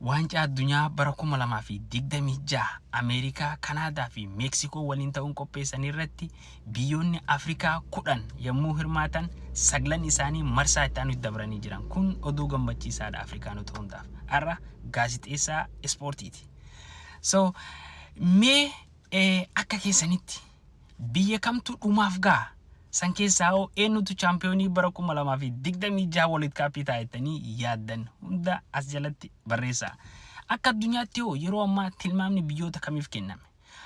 Waancaa Addunyaa bara 2026 Ameerikaa, Kanaadaa fi Meeksikoo waliin ta'uun qopheessan irratti biyyoonni Afrikaa 10 yommuu hirmaatan saglan isaanii marsaa itti aanutti dabranii jiran. Kun oduu gammachiisaadha Afrikaanota hundaaf. Har'a gaazixeessaa ispoortiiti. So mee akka keessanitti Biyya kamtu dhumaaf gaha? San keessaa hoo eennutu chaampiyoonii bara 2026 World Cup ta'a jettanii yaaddan? Hunda as jalatti barreessaa. Akka addunyaatti hoo yeroo ammaa tilmaamni biyyoota kamiif kenname?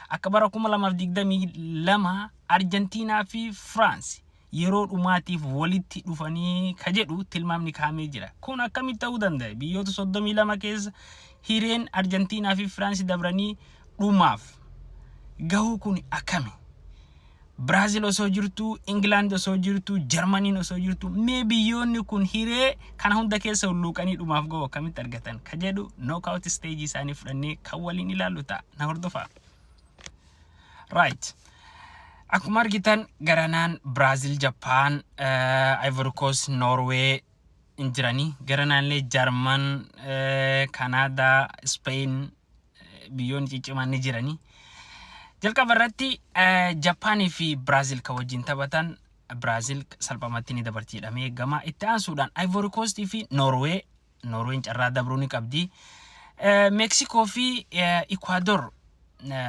Akka bara 2022 Arjantiinaa fi Firaansi yeroo dhumaatiif walitti dhufanii ka jedhu tilmaamni kaa'amee jira. Kun akkamitti ta'uu danda'e? Biyyoota 32 keessa hireen Arjantiinaa fi Firaansi dabranii dhumaaf gahuu kun akkami? Biraazil osoo jirtuu, Ingilaand osoo jirtuu, Jarmaniin osoo jirtuu, mee biyyoonni kun hiree kana hunda keessa hulluuqanii dhumaaf gahuu akkamitti argatan? Ka jedhu knockout stage isaanii fudhannee kan waliin ilaallu ta'a. Na hordofaa. Right. Akkuma argitan garanaan Biraazil, Jappaan, Ivory Coast, Norway hin jiranii. Garanaallee Jarman, Kanaadaa, Spain biyyoonni ciccimaan ni jiranii. Jalqaba irratti Jappaanii fi Biraazil kan wajjin taphatan Biraazil salphamatti ni dabarti jedhamee eegama. Itti aansuudhaan Ivory Coast fi Norway Noorween carraa dabruu ni qabdi. Meeksikoo fi Ikwaadoor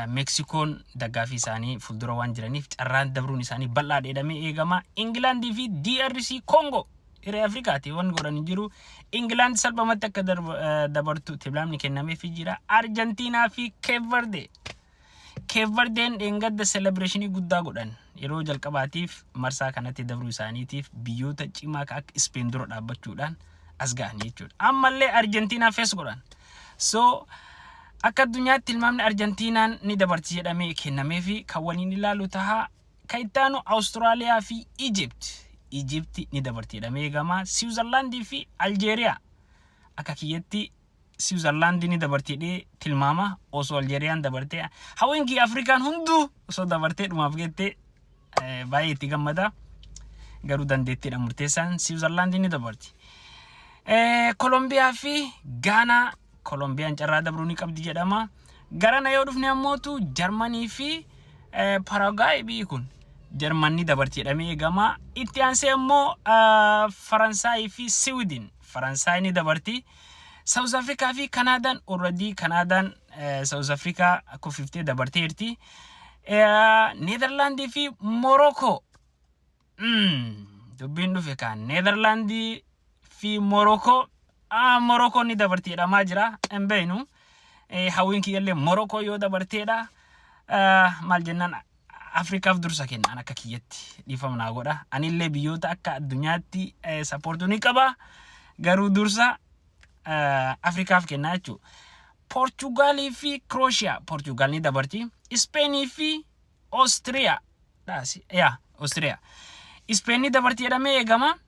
Meeksikoon daggaafii isaanii fuuldura waan jiraniif carraan dabruun isaanii bal'aa dheedhamee eegama. Ingilaandii fi DRC Kongo hiree Afrikaati waan godhan hin jiru. Ingilaand salphamatti akka dabartu tilmaamni kennameefii jira. Arjantiinaa fi Keevverde Keep Verdeen dheengadda selebireeshinii guddaa godhan. Yeroo jalqabaatiif marsaa kanatti dabruu isaaniitiif biyyoota cimaa ka akka Ispeen dura dhaabbachuudhaan as ga'an jechuudha. Ammallee Arjentiinaa fees godhan. So akka addunyaatti tilmaamni Arjentiinaan ni dabarti jedhamee kennamee fi kan waliin ilaalu taha. Ka itti aanu Awustiraaliyaa fi Ijipt. Ijipti ni dabarti jedhamee eegama. Siwuzarlaandii fi Aljeeriyaa akka kiyyatti Siwizarlaandi ni dabarti jedhee tilmaama osoo Aljeeriyaan dabartee hawwiin kiyya Afrikaan hunduu osoo dabartee dhumaaf geettee baay'ee itti gammada garuu dandeettiidha murteessaan Siwizarlaandi ni dabarti. Kolombiyaa fi Gaanaa Kolombiyaan carraa dabruu ni qabdi jedhama. Garana yoo dhufne ammootu Jarmanii fi Paraagaayi biyyi kun Jarman ni dabarti jedhamee eegama. Itti aansee immoo Faransaayii fi Siwidin Faransaay ni dabarti. South Africa fi Kanaadaan already Kanaadaan South Africa kuffiftee dabarteerti. Neezerlaandii fi Morookoo dubbiin dhufe kaan Neezerlaandii fi Morookoo Morookoon ni dabarti jedhamaa jira hin beeknu. Hawwiin kiyyallee Morookoo yoo dabarteedha maal jennaan Afrikaaf dursa kenna an akka kiyyatti dhiifama naa godha anillee biyyoota akka addunyaatti eh, sappoortuu ni qaba garuu dursa eh, Afrikaaf kennaa jechuudha. Poorchugaalii fi Kirooshiyaa Poorchugaal ni dabarti Ispeenii fi Oostiriyaa dhaasi yaa Oostiriyaa Ispeen ni dabarti jedhamee eegama.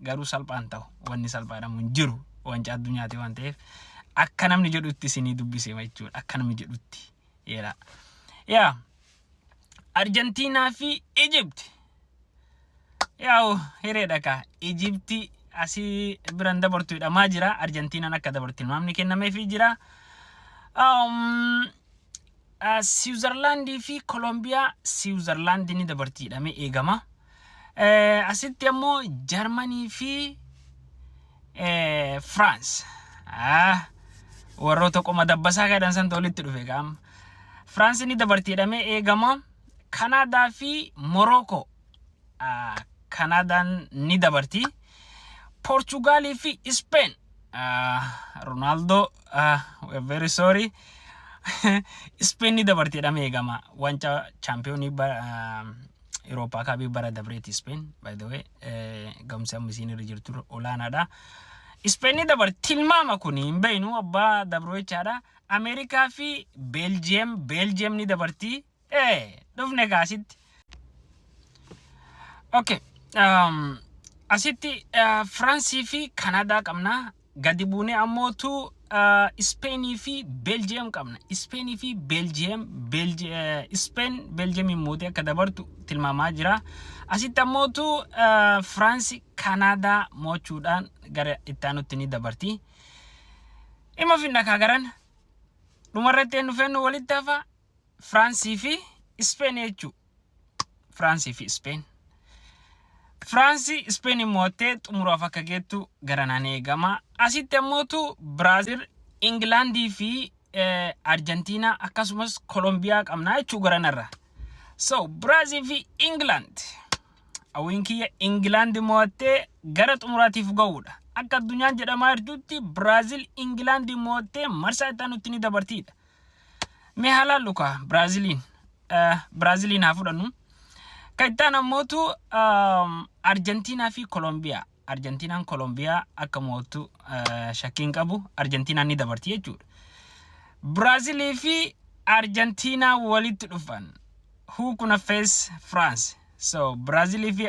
garuu salphaan ta'u wanni salphaadhamu hin jiru wanca addunyaati waan ta'eef akka namni jedhutti isinii dubbisema jechuudha akka namni jedhutti yeera yaa arjantiinaa fi ijibti yaa'u hireedha kaa ijibti asii biran dabartu hidhamaa jira arjantiinaan akka dabartu ilmaamni kennameefii jira um, Siwuzarlaandii fi Kolombiyaa Siwuzarlaandi ni dabarti jedhamee eegama. Asitti ammoo Jarmanii fi Firaans. Warroota qoma dabbasaa jedhan santu walitti dhufe gaam. Firaans ni dabarti jedhamee eegama. Kanaadaa fi Morookoo. Kanaadaan ni dabarti. Poorchugaalii fi Ispeen. Ronaaldoo we're very sorry. Ispeen ni dabarti jedhamee eegama. Wanca chaampiyoonii Irooppaa kaabii bara dabreeti Ispeen. By the way gamsi amma isiin irra jirtu olaanaadha. Ispeen ni dabarti tilmaama kun hin beeknu abbaa dabroo jechaadha. Ameerikaa fi Beeljiyeem Beeljiyeem ni dabarti Ee, dhufne gaa asitti. Okay. Um, asitti uh, Firansii fi Kanaadaa qabna. Gadi buunee ammootu uh, Ispeenii fi Beeljiyeem qabna. Ispeenii fi Beeljiyeem, Beelji, uh, Ispeen Beeljiyeemiin mootee akka dabartu tilmaamaa jira. Asitti ammootu uh, Firaansi Kanaadaa mo'achuudhaan gara itti aanutti ni dabarti. Dhimma finna kaagaran dhumarratti eenyu feennu walitti hafa Firaansii fi Ispeen jechuu. Firaansii fi Ispeen. Firaansii Ispeen mo'attee xumuraaf akka geettu garanaan eegama. Asitti ammootu Biraazil, Ingilaandii fi Arjantiinaa akkasumas Kolombiyaa qabna jechuu garanarra. So Biraazil fi Ingilaand. Hawwiin kiyya Ingilaand mo'attee gara xumuraatiif ga'uudha. Akka addunyaan jedhamaa jirtutti Biraazil Ingilaand mo'attee marsaa itti aanutti ni dabartiidha. Mee halaallu kaa Biraaziliin Biraaziliin haa fudhannu. Kan itti aanu ammootu Arjentiinaa fi Kolombiyaa. Arjentiinaan Kolombiyaa akka mo'attu shakkiin qabu Arjentiinaan ni dabarti jechuudha. Biraazilii fi Arjentiinaa walitti dhufan. Who kuna face France? So Biraazilii fi